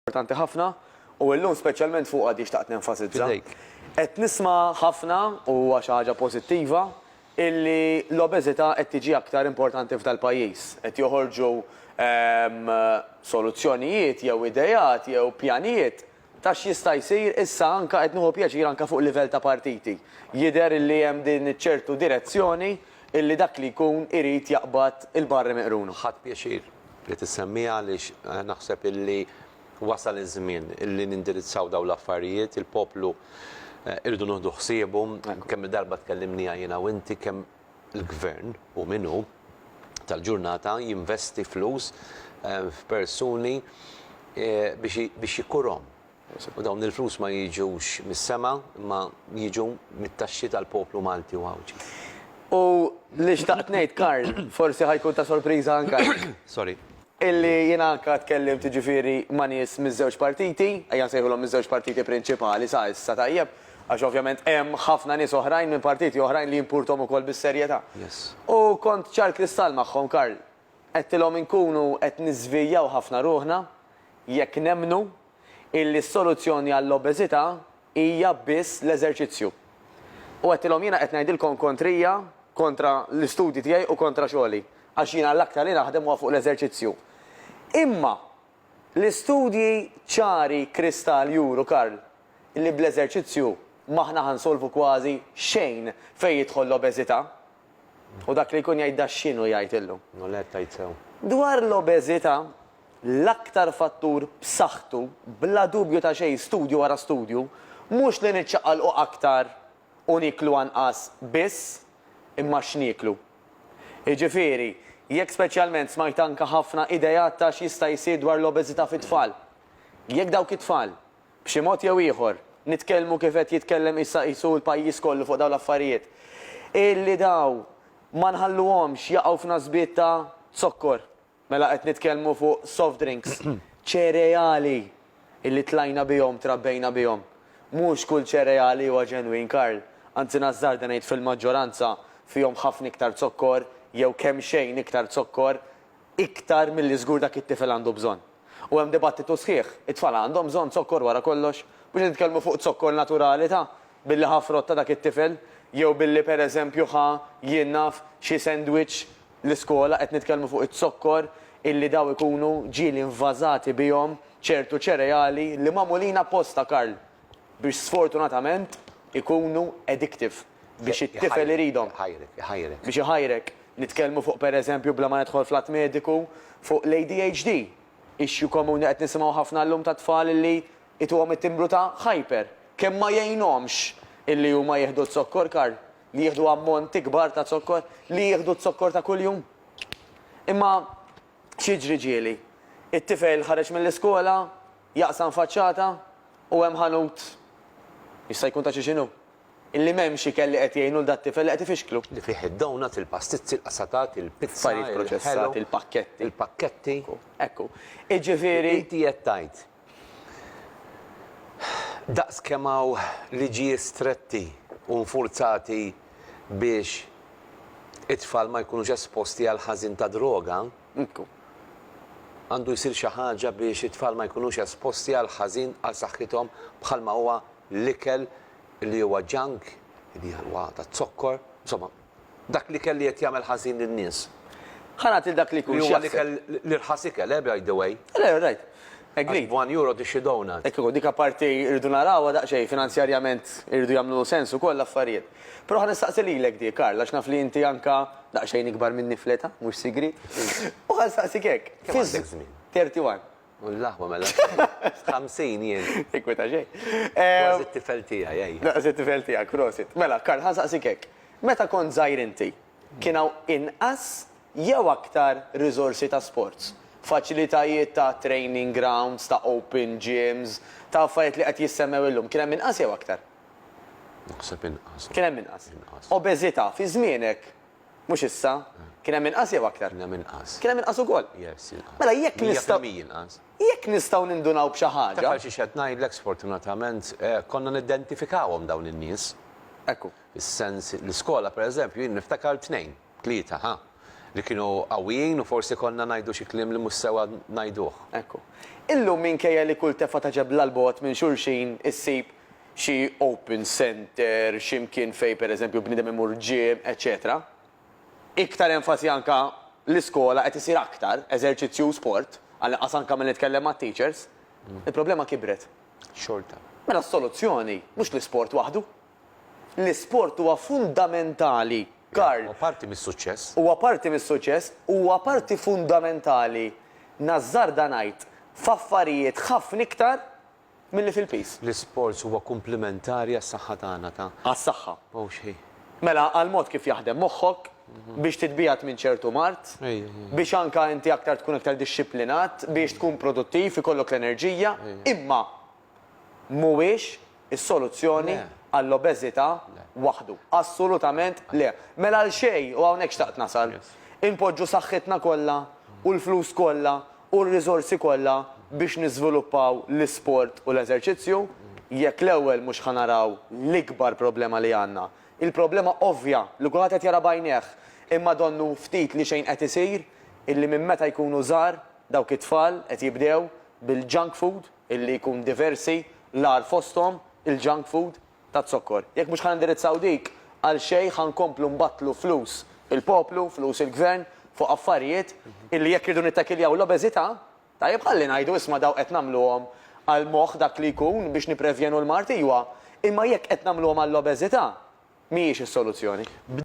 importanti ħafna u illum speċjalment fuqha di xtaqt nenfasizza. Fidejk. Qed nisma' ħafna, u huwa xi ħaġa pożittiva, illi l-obeżità qed tiġi aktar importanti f'dal-pajjiż. Qed joħorġu soluzzjonijiet jew ideat jew pjanijiet ta' x'jista' jsir issa anke qed nieħu pjaċir anke fuq livell ta' partiti. Jidher illi hemm din iċ-ċertu direzzjoni illi dak li jkun irid jaqbad il-barri miqruna. Ħadt pjaċir li tissemmiha għaliex naħseb illi wasal iż-żmien illi nindirizzaw dawn l-affarijiet. Il-poplu irridu nieħdu ħsiebu. Kemm-il darba tkellimniha jiena u inti kemm il-Gvern, hu min hu, tal-ġurnata jinvesti flus f'persuni biex ikurhom. U dawn il-flus ma jiġux mis-sema imma jiġu mit-taxxi tal-poplu Malti u Għawdxi. U li xtaqt ngħid, Karl, forsi ħa jkun ta' sorpriża anke għalik. Sorry. Illi jiena anke tkellimt jiġifieri ma' nies miż-żewġ partiti, ejja nsejħulhom miż-żewġ partiti prinċipali sa issa, tajjeb, għax ovvjament hemm ħafna nies oħrajn minn partiti oħrajn li jimpurthom ukoll bis-serjetà. U kont ċar kristall magħhom, Karl. Għedtilhom inkunu qed niżvijaw ħafna ruħna jekk nemmnu illi s-soluzzjoni għall-obeżità hija biss l-eżerċizzju. U għedtilhom jiena qed ngħidilkom kontrija, kontra l-istudji tiegħi u kontra xogħli, għax jiena l-aktar li naħdem huwa fuq l-eżerċizzju. Imma l-istudji ċari kristall juru, Karl, li bl-eżerċizzju m'aħna ħa nsolvu kważi xejn fejn jidħol l-obeżità. U dak li jkun jgħid da x'inhu jgħid illum? Nolette, Tgħid sew. Dwar l-obeżità, l-aktar fattur b'saħħtu, bla dubju ta' xejn, studju wara studju, mhux li niċċaqalqu aktar u nieklu anqas biss, imma x'nieklu. Jiġifieri, jekk speċjalment smajt anke ħafna ideat ta' x'jista' jsir dwar l-obeżità fit-tfal. Jekk dawk it-tfal b'xi mod jew ieħor, nitkellmu kif qed jitkellem issa qisu l-pajjiż kollu fuq dawn l-affarijiet, illi dawn ma nħalluhomx jaqgħu f'nasbiet ta' zokkor, mela qed nitkellmu fuq soft drinks, ċereali illi tlajna bihom, trabbejna bihom. Mhux kull ċereali huwa ġenwin, Karl, anzi nażżarda ngħid fil-maġġoranza fihom ħafna iktar zokkor jew kemxejn iktar zokkor, iktar milli żgur dak it-tifel għandu bżonn. U hemm dibattitu sħiħ, it-tfal għandhom bżonn zokkor wara kollox? Mhux qed nitkellmu fuq zokkor naturali ta' billi ħa frott ta' dak it-tifel, jew billi per eżempju ħa, jien naf, xi sandwich l-iskola, qed nitkellmu fuq iz-zokkor illi daw ikunu ġieli invażati bihom ċertu ċereali li magħmulin apposta, Karl, biex sfortunatament ikunu addictive. biex it-tifel iridhom. Iħajrek, iħajrek. Biex iħajrek. Nitkellmu fuq pereżempju bla ma nidħol fl-att mediku, fuq l-ADHD, issue komuni qed nisimgħu ħafna llum ta' tfal li ituhom it-timbru ta' hyper. Kemm ma jgħinhomx illi huma jieħdu z-zokkor Karl, li jieħdu ammonti kbar ta' zokkor, li jieħdu z-zokkor ta' kuljum. Imma x'jiġri ġieli? It-tifel ħareġ mill-iskola, jaqsam faċċata u hemm ħanut, jista' jkun ta' xi x'inhu, Illi m'hemmx ikel li qed jgħin lul dat-tifel li qed ifixklu. Li fih id-donuts, il-pastizzi, il-qasatat, il-pizza, Affarijiet proċessati, il-pakketti. il-pakketti. Ekku. Iġifieri. Inti qed tgħid, daqs kemm hawn liġijiet stretti u nfurzati biex it-tfal ma jkunux esposti għall-ħażin tad-droga, Nkun. Għandu jsir xi ħaġa biex it-tfal ma jkunux esposti għal ħażin għal saħħithom bħalma huwa l-ikel li huwa junk, li huwa taz-zokkor, insomma, dak l-ikel li qed jagħmel ħażin lin-nies. Ħa nagħti lil dak li jkun x'jaħseb. Li huwa l-ikel, l-irħas ikel, eh, by the way. Le, rajt. Agreed. Għax b'one euro tixtri donut. Hekk ikun, dik apparti rridu narawha daqsxejn, finanzjarjament iridu jagħmlu sens ukoll l-affarijiet. Però ħa nistaqsi lilek dik, Karl, għax naf li inti anke daqsxejn ikbar minni fl-età, mhux sigriet. U ħa nsaqsik hekk. Kemm għandek żmien? Thirty one. U l-aħwa mela sirt ħamsin jien. Tinkweta xejn. Kważi t-tifel tiegħi, ejja. Kważi t-tifel tiegħek, prosit. Mela, Karl, ħa nsaqsik hekk. Meta kont żgħir inti, Kien hawn inqas jew aktar riżorsi ta' sports, faċilitajiet ta' training grounds, ta' open gyms, ta' affarijiet li qed jissemmew illum. Kien hemm inqas jew aktar? Naħseb inqas. Kien hemm inqas. Inqas. Obeżità, fi żmienek, mhux issa, kien hemm inqas jew aktar? Kien hemm inqas. Kien hemm inqas ukoll? Yes, inqas. Mela jekk nistgħu. Mija fil-mija inqas. Jekk nistgħu nindunaw b'xi ħaġa. Taf għal xiex qed ngħidlek sfortunatament konna niddentifikawhom dawn in-nies. Ekku. Is-sens, l-iskola pereżempju jien niftakar tnejn, tlieta, ħa, li kienu qawwijin u forsi konna ngħidu xi kliem li mhux sewwa ngħiduh. Ekku. Illum minkejja li kull tefgħa ta' ġebla 'l bogħod minn xulxin issib xi open centre, xi mkien fejn pereżempju bniedem imur gym, eċċetera Iktar enfasi anke l-iskola qed isir aktar eżerċizzju u sport, għall-inqas anke milli nitkellem mat-teachers, il-problema kibret. Xorta. Mela s-soluzzjoni mhux l-isport waħdu. L-isport huwa fundamentali, Karl. Huwa parti mis-suċċess. Huwa parti mis-suċċess u huwa parti fundamentali, nażżarda ngħid, f'affarijiet ħafna iktar milli fil-piż. L-isports huwa kumplimentari għas-saħħa tagħna ta'. Għas-saħħa. Mhux hi. Mela għall-mod kif jaħdem moħħok, biex titbiegħed minn ċertu mard, biex anke inti aktar tkun aktar dixxiplinat, biex tkun produttiv, ikollok l-enerġija, imma. mhuwiex is-soluzzjoni għall-obeżità waħdu. Assolutament le. Mela għal xejn, u hawnhekk xtaqt nasal, inpoġġu saħħitna kollha u l-flus kollha u r-riżorsi kollha biex niżviluppaw l-isport u l-eżerċizzju, jekk l-ewwel mhux ħa naraw l-ikbar problema li għandna? Il-problema ovvja, li kulħadd qed jara b'għajnejh, imma donnu ftit li xejn qed isir, illi minn meta jkunu żgħar, dawk it-tfal qed jibdew bil-junk food, illi jkun diversi, l-agħar fosthom il-junk food taz-zokkor. Jekk mhux ħa nindirizzaw dik, għal xejn ħa nkomplu nbattlu flus il-poplu, flus il-Gvern fuq affarijiet illi jekk irridu nittakiljaw l-obeżità, tajjeb ħalli ngħidu isma' dawk qed nagħmluhom għal moħħ dak li jkun biex nipprevjenu l-mard iwa, imma jekk qed nagħmluhom għall-obeżità mhijiex is-soluzzjoni.